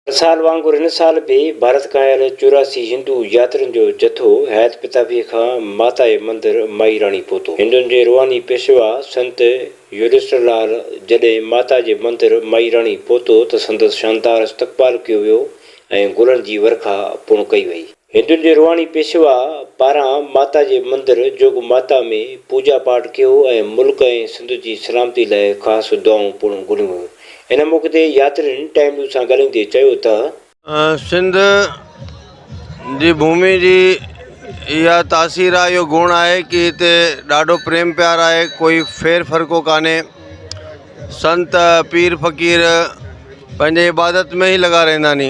هر سال وانگر هن سال به ڀارت کان آيل چوراسي هندو ياترين جو جٿو حيات پتافيء کان ماتائي مندر مائي راڻي پهتو. هندن جي روحاني پيشوا سنت يوڌشٽر لال جڏهن ماتا جي مندر مائي راڻي پهتو ته سندس شاندار استقبال ڪيو ويو ۽ گلن جي ورکا پڻ ڪئي وئي. هندن جي روحاني پيشوا پاران ماتا جي مندر جوڳ ماتا ۾ پوڄا پاٺ ڪيو ۽ ملڪ ۽ سنڌ جي سلامتي لاء خاص دعائون پڻ گهريون ويون. ان موقعي تي ياترين ٽائيم نيوز سان ڳالهائيندي چيو ته. سنڌ جي ڀومي جي اها تاثير آهي اهو گڻ آهي ڪي هتي ڏاڍو پريم پيار آهي ڪوئي ڦير فرقو ڪانهي سنت پير فقير پنهنجي عبادت ۾ ئي لڳا رهندا ني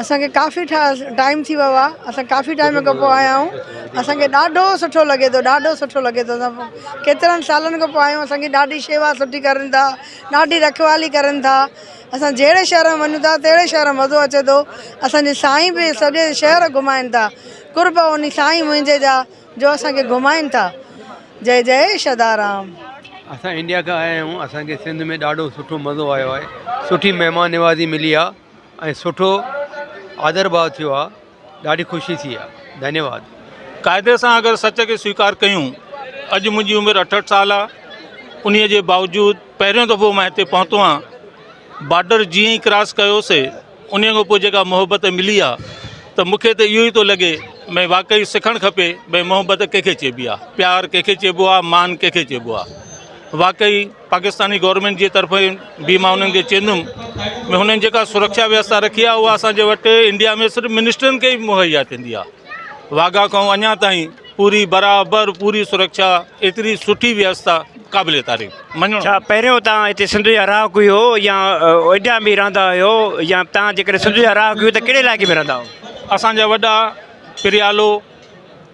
اسان کي ڪافي ٽائيم ٿي ويو آ اسان ڪافي ٽائيم کان پوء آيا آھيون اسان کي ڏاڍو سٺو لڳي ٿو ڏاڍو سٺو لڳي ٿو اسان ڪيترن سالن کان پوء آيا آھيون اسان جي ڏاڍي شيوا سٺي ڪرن ٿا ڏاڍي رکوالي ڪرن ٿا اسان جھڙي شھر ۾ وڃون ٿا تھڙي شھر ۾ مزو اچي ٿو اسان جي سائين به سڄي شھر گھمائن ٿا قرب ان سائين منھنجي جا جو اسان کي گھمائن ٿا جئ جئ شھدارام. اسان انڊيا کان آيا آھيون اسان کي سنڌ ۾ ڏاڍو سٺو مزو آيو آھي سٺي مھمان نوازي ملي آ. ۽ سٺو آدر ڀاء ٿيو آ ڏاڍي خوشي ٿي آ ڌنيواد. قاعدي سان اگر سچ کي سويڪار ڪيون اڄ منهنجي عمر اٺهٺ سال آ انهي جي باوجود پهريون دفعو مان هتي پهتو آهيان بارڊر جيئن ئي ڪراس ڪيو سي انهي کان پوء جيڪا محبت ملي آ ته مون کي ته اهو ئي ٿو لڳي ڀئي واقعي سکڻ کپي ڀئي محبت ڪنهن کي چئبي آ پيار ڪنهن کي چئبو آ مان ڪنهن کي چئبو آ واقعي پاڪستاني گورنمينٽ جي طرفين به مان انهن کي چيندم ۾ هنن جيڪا سرکشا ويوستا رکي آهي اها اسان جي وٽ انڊيا ۾ صرف منسٽرن کي ئي مهيا ٿيندي آهي واگا کان اڃا تائين پوري برابر پوري سرکشا ايتري سٺي ويوستا قابل تعريف مڃو ڇا پهريون تان هتي سنڌ جا رهاڪ هيو يا انڊيا ۾ رهندا هيو يا تان جيڪڏهن سنڌ جا رهاڪ هيو ته ڪهڙي علائقي ۾ رهندا هيو اسان جا وڏا پريالو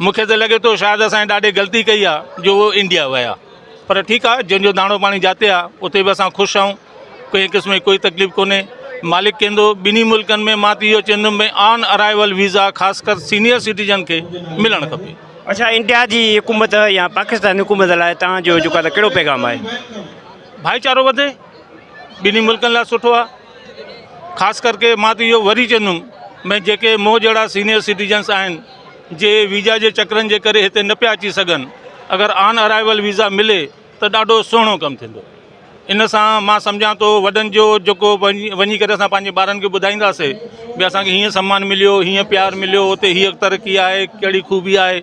مون کي ته لڳي ٿو شايد اسان ڏاڍي غلطي ڪئي آ جو اهي انڊيا ويا پر ٺيڪ آ جنهن جو داڻو پاڻي جاتي آ اتي به اسان خوش آهيون ڪنهن قسم جي ڪوئي تڪليف ڪونهي مالڪ ڪيندو ٻنهي ملڪن ۾ مان ته اهو چوندم ڀئي آن ارائيول ويزا خاص ڪر سينيئر سٽيزن کي ملڻ کپي. اڇا انڊيا جي حڪومت يا پاڪستان حڪومت لاء توهان جو جيڪو آ ته ڪهڙو پيغام آهي؟ ڀائيچارو وڌي ٻنهي ملڪن لاء سٺو آ. خاص ڪرڪي مان ته اهو وري چوندم ڀاء جيڪي مون جهڙا سينيئر سٽيزنس آهن جي ويزا جي چڪرن جي ڪري هتي نه پيا اچي سگهن اگر آن ارائيول ويزا ملي ته ڏاڍو سهڻو ڪم ٿيندو ان سان مان سمجهان ٿو وڏن جو جيڪو وڃي ڪري اسان پنهنجي ٻارن کي ٻڌائينداسي ڀاء اسانکي هيئن سمان مليو هيئن پيار مليو هتي هيئ ترقي آهي ڪهڙي خوبي آهي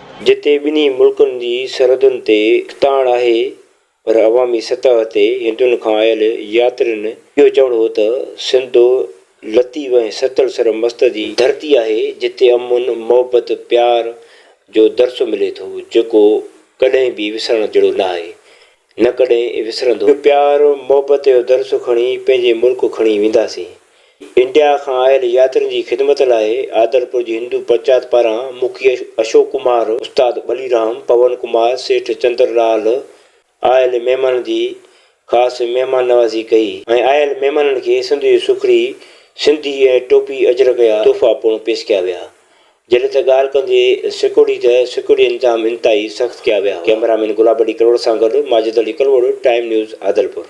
جتي ٻنهي ملڪن جي سرحدن تي تاڙ آهي پر عوامي سطح تي هندن کان آيل ياترين اهو چوڻ هو ته سنڌ لطيف ۽ ستل سر مست جي ڌرتي آهي جتي امن، محبت، پيار جو درس ملي ٿو جيڪو ڪڏهن به وسرڻ جهڙو ناهي نه ڪڏهن وسرندو. اهو پيار محبت جو درس کڻي پنهنجي ملڪ کڻي وينداسين. انڊيا کان آيل ياترين جي خدمت لاء عادلپور جي هندو پرچات پاران مکي اشوڪ ڪمار، استاد ٻلي رام، پون ڪمار، سيٺ چندر لال آيل مهمانن جي خاص مهمان نوازي ڪئي ۽ آيل مهمانن کي سنڌ جي سکڙي، سنڌي ۽ ٽوپي اجرڪ جا تحفا پڻ پيش ڪيا ويا. جڏهن ته ڳالهه ڪندي سيڪورٽي ته سيڪورٽي انتظام انتهائي سخت ڪيا ويا هئا. ڪئميرا مين گلاب علي ڪلوڙ سان گڏ ماجد علي ڪلوڙ، ٽائيم نيوز عادلپور.